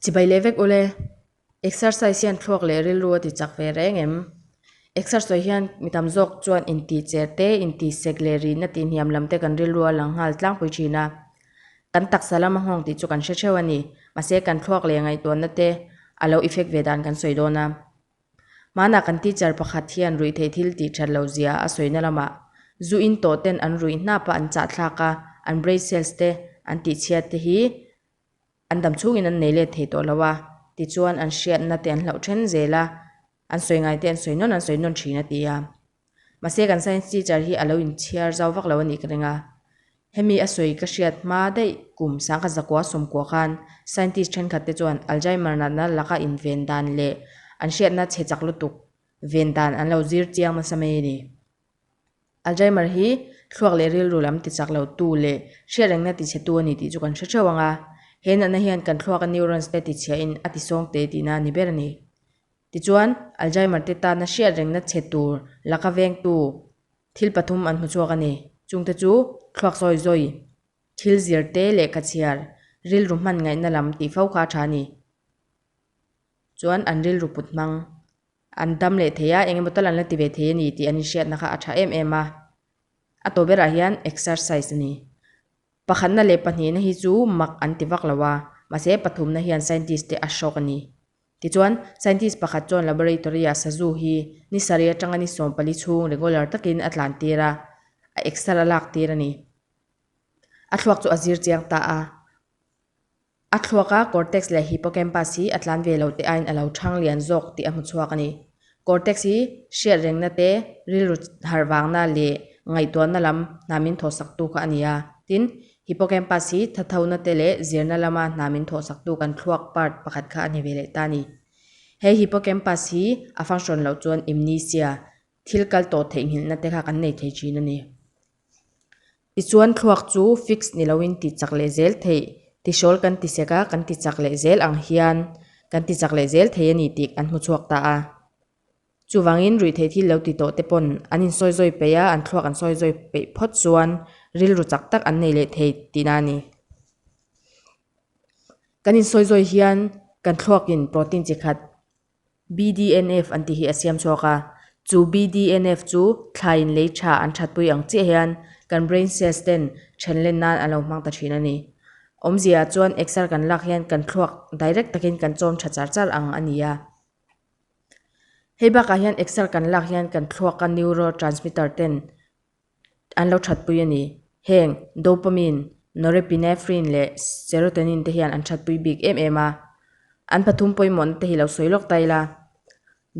Chibai leh vek ule, exercise hian thluak leh rilru a ti chak ve reng em? Exersoise hian mi tam zawk chuan intihcher te, intisek leh rihna tihniam lam te kan rilru a lang nghal tlangpui thin a. Kan taksa lam a nghawng tih chu kan hre theuh a ni. Mahse, kan thluak leh ngaihtuahna te a lo effect ve dan kan sawi dawn a. Hmanah kan teacher pakhat hian ruihtheih thil tih that lo zia a sawina lamah zu in tawhten an ruih hnapa an chahthlak a, an brain cells te, an tihchhiat te hi an dam chungin an nei let thei tawh lo a, tichuan an hriatna te an hlauh then zel a, an sawi ngai te an sawi nawn an sawi nawn thin a ti a. Mahse kan science teacher hi alo inchhiar zau vak lo anih ka ring a. Hemi a sawi ka hriat hma daih kum sangkhat zakua sawmkua khan scientist thenkhat te chuan Alzheimer natna laka inven dan leh an hriatna chhe chak lutuk ven dan an lo zir chiang nasa mai ani. Alzheimer hi thluak leh rilru lam ti chak lo tu leh hriat rengna ti chhe tu ani tih chu kan hre theuh anga he natna hian kan thluaka neurons te ti chhia in a ti sawng teh tihna a ni ber ani. Tichuan, Alzheimer te tana hriat rengna chhe tur laka vengtu thil pathum an hmu chhuak a ni. Chungte chu, thluak zawi zawi, thil zir te leh ka chhiar, rilru hman ngaihna lam tih fo kha a tha a ni. Chuan an rilru put hmang, an dam leh thei a, engemaw tal an la ti ve thei a ni tih an inhriatna kha a tha em em a. A tawh berah hian exercise a ni. Pakhatna leh pahnihna hi chu mak an ti vak lo a, mahse pathumna hian scientist te a shock a ni. Tichuan, scientist pakhat chuan laboratory-ah sazu hi ni sarih atanga ni sawm pali chhung regular takin a tlan tir a, a exer a lak tir a ni. A thluak chu a zir chiang ta a. A thluaka cortex leh hippocampus hi a tlan ve lo te aiin a lo chhang lian zawk tih a hmu chhuak a ni. Cortex hi hriat rengna te, rilru harh vangna leh ngaihtuahna lam hna min thawhsaktu kha a ni a. Tin, hippocampus hi thathona te leh zirna lama hna min thawhsaktu kan thluak part pakhat kha a ni ve leh ta ni. He hippocampus hi a function loh chuan amnesia, thil kal tawh theihnghilhna te kha kan nei thei thin a ni. Tichuan thluak chu fix ni loin tih chak leh zel theih tisawl kan ti sek a, kan ti chak leh zel ang hian kan ti chak leh zel thei a ni tih kan hmu chhuak ta a. Chuvangin ruih theih thil lo ti tawh te pawn an insawi zawi peih a, an thluak an sawi zawi peih phawt chuan rilru chak tak an nei leh thei tih na a ni. Kan insawi zawi hian kan thluakin protein chi khat BDNF an tih hi a siam chhuak a, chu BDNF chu thlaiin lei tha an thatpui ang chiah hian kan brain cells ten thenlen nan a lo hmang ta thin a ni. Awmzia chuan exer kan lak hian kan thluak direct takin kan chawm tha char char ang a ni a. Hei bakah hian exer kan lak hian kan thluaka neurotransmitter ten, an lo thatpui a ni. Heng dopamine, norepinephrine leh serotonin te hian an thatpui bik em em a, an pathum pawimawhna te hi lo sawi lawk ta ila.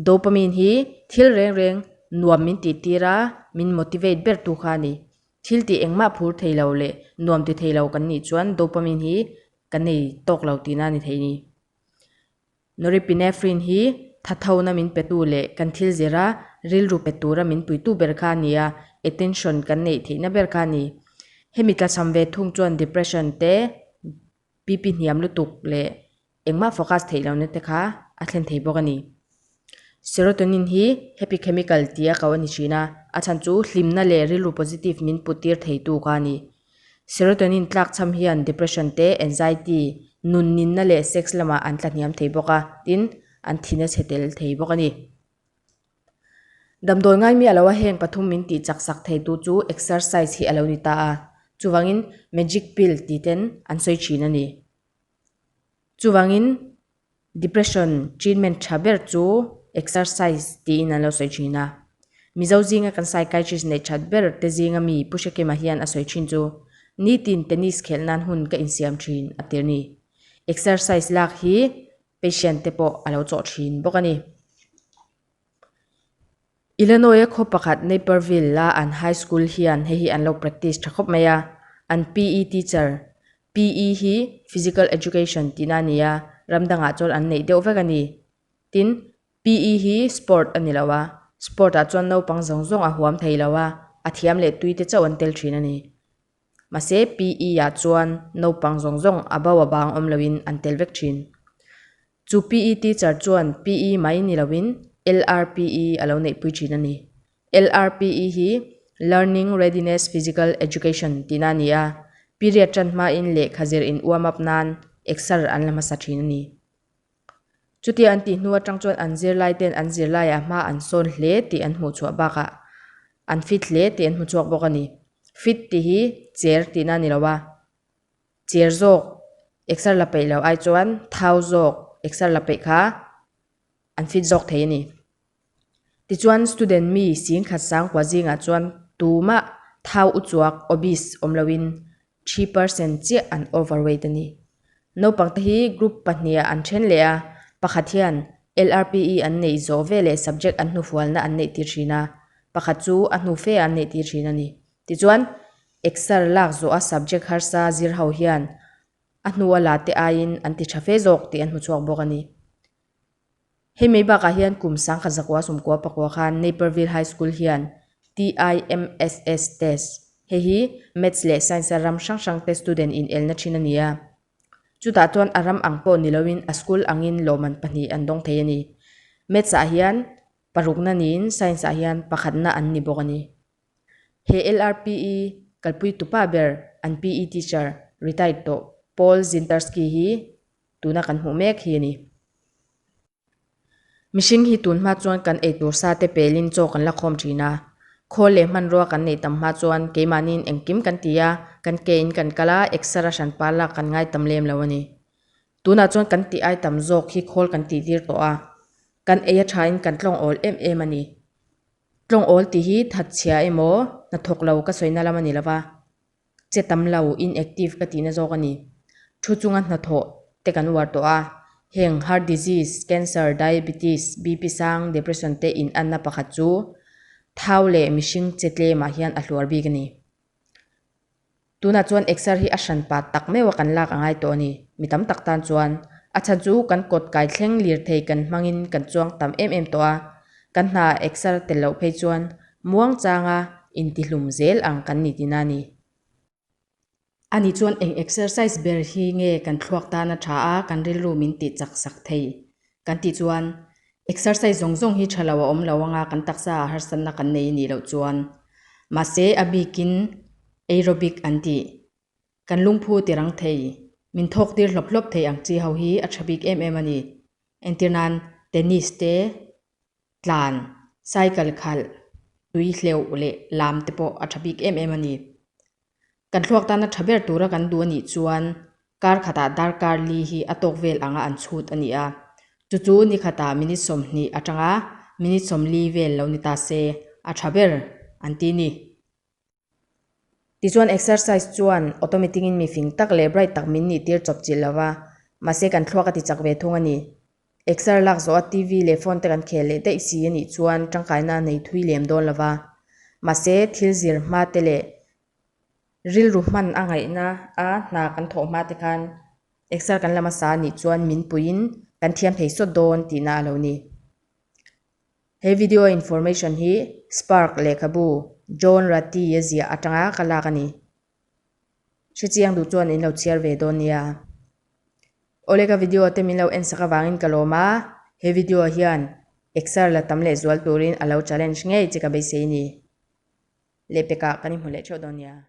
Dopamine hi thil reng reng nuam min titira min motivate ber tu kha a ni. Thil tih engmah phur thei lo leh nuam ti thei lo kan nih chuan dopamine hi ka nei tawk lo tihna a ni thei a ni. Norepinephrine hi thathona min petu leh kan thil zira rilru pet tura min puitu ber kha a ni a, attention kan neih theihna ber kha a ni. Hemi tlachham ve thung chuan depression te, BP hniam lutuk leh engmah focus theih lohna te kha a thlen thei bawk a ni. Serotonin hi happy chemical tia ko a ni thin a, a chhan chu hlimna leh rilru positive min put tir theitu kha a ni. Serotonin tlakchham hian depression te, anxiety, nun ninna leh sex lamah an tlahniam thei bawk a, tin, an thi nasa tel thei bawk a ni. Damdawi ngai mi a lo a heng pathum min tih chaksak thei tu chu exercise hi a lo ni ta a, chuvangin magic pill tih ten an sawi thin a ni. Chuvangin Depression treatment tha ber chu exercise tiin an lo sawi thin a. Mizo zinga kan psychiatrist neih that ber te zinga mi Pu Hre Kema hian a sawi thin chu nitin tennis khel nan hun ka insiam thin a tir ni. Exercise lak hi patient te pawh a lo chawh thin bawk a ni. Illinois-a khaw pakhat Naperville-a an high school hian hei hi an lo practice tha khawp mai a, an PE teacher, PE hi Physical Education tihna a ni a, ram dangah chuan an neih deuh vek a ni. Tin, PE hi sport a ni lo a, sport-ah chuan naupang zawng zawng a huam thei lo a, a thiam leh tui te chauh an tel thin a ni. Mahse, PE-ah chuan naupang zawng zawng a bo avang awm loin an tel vek thin. Chu PE teacher chuan PE mai ni loin LRPE a lo neihpui thin a ni. LRPE hi Learning Readiness Physical Education tihna a ni a, period tan hmain lehkha zir in uamap nan exer an la hmasa thin a ni. Chutia an tih hnu atang chuan an zirlaite'n an zirlaiah hma an sawn hle tih an hmuhchhuah bakah an fit hle tih an hmu chhuak bawk a ni. Fit tih hi cher tihna a ni lo a. Chêr zawk exer la peih loh ai chuan thau zawk exer la peih kha an fit zawk thei a ni. Tichuan student mi Singkhat Sangkua zingah chuan tuma thau u chuak, obese, awm loin three percent chiah an overweight a ni. Naupangte hi group pahniha an then leh a, pakhat hian LRPE an neih zawh ve leh subject an hnufualna an neih tir thin a, pakhat chu a hnu fea an neih tir thin a ni. Tichuan Exer lak zawh a subject harsa zir ho hian a hnua la te aiin an ti tha fe zawk tih an hmu chhuak bawk a ni. Hei mai bakah hian kum sangkhat zakua sumkua pakua khan Naperville High School hian TIMSS test, hei hi Maths leh Science a ram hrang hrangte student in elna thin a ni a. Chutah chuan a ram ang pawh ni loin a school angin lawmman pahnih an dawng thei a ni. Maths ah hian parukna niin Science ah hian pakhatna an ni bawk a ni. He LRPE kalpui tupa ber an PE teacher retired tawh Paul Zintarski hi tuna kan hmuh mek hi a ni. Mihring hi tun hma chuan kan eitur sa te pelin chaw kan la khawm thin a, khawl leh hmanrua kan neih tam hma chuan keimahniin engkim kan ti a, kan ke in kan kal a, exer-a hran par lak kan ngai tam lem lo a ni. Tunah chuan kan tih ai tam zawk hi khawl kan tihtir tawh a, kan ei a thain kan tlawng awl em em a ni. Tlawng awl tih hi thatchhia emaw hnathawk lo ka sawina lam a ni lova, che tam lo, inactive ka tihna zawk a ni. Thu chunga hnathawh te kan uar tawh a, heng heart disease, cancer, diabetes, BP sang, depression te inanna pakhat chu thau leh mihring che tlem ah hian a hluar bik a ni. Tunah chuan Exer hi a hran pat tak meuha kan lak a ngai tawh a ni. Mi tam tak tan chuan a chhan chu kan kawt kai thleng lir thei kan hmangin kan chuang tam em em tawh a. Kan hna Exer tel loh phei chuan Muangchanga intihlum zel ang kan ni tina ni. Ani chuan eng Exercise ber hi nge kan thluak tana tha a kan rilru min tih chak sak thei. Kan tih chuan, Exercise zawng zawng hi tha lo a awm lo anga kan taksa ah harsatna kan nei i nih loh chuan. Mahse a bikin Aerobic an tih. Kan lungphu tirang thei, min thawktir hlawp hlawp thei ang chi ho hi a tha bik em em a ni. Entir nan Tennis te, tlan, cycle khalh, tui hleuh leh lam te pawh a tha bik em em a ni. Kan thluak tana tha ber tura kan duh a nih chuan kar khatah darkar li hi a tawk vel anga an chhut a ni a. Chu chu ni khatah minute sawmhnih atanga minute sawm li vel lo ni ta se, a tha ber an ti ni. Tichuan exercise chuan automatic in mi fing tak leh bright tak min nih tir chawp chilh lova, mahse kan thluak a ti chak ve thung a ni. Exer lak zawh a TV leh phone te kan khel leh daih si a nih chuan tangkaina a nei thui lem dawn lo va. Mahse, thil zir hma te leh rilru hman a ngaihna a hna kan thawh hma te khan Exer kan la hmasa a nih chuan min puiin kan thiam thei sawt dawn tihna a lo ni. He video information hi Spark lehkhabu John Ratty-a ziah atanga ka lak a ni. Hre chiang duh chuan in lo chhiar ve dawn nia. Awle ka video te min lo en sak avangin ka lawm a, he video ah hian exer la tam leh zual turin a lo challenge ngei che ka beisei ni. Lehpek ah kan inhmu leh theuh dawn nia.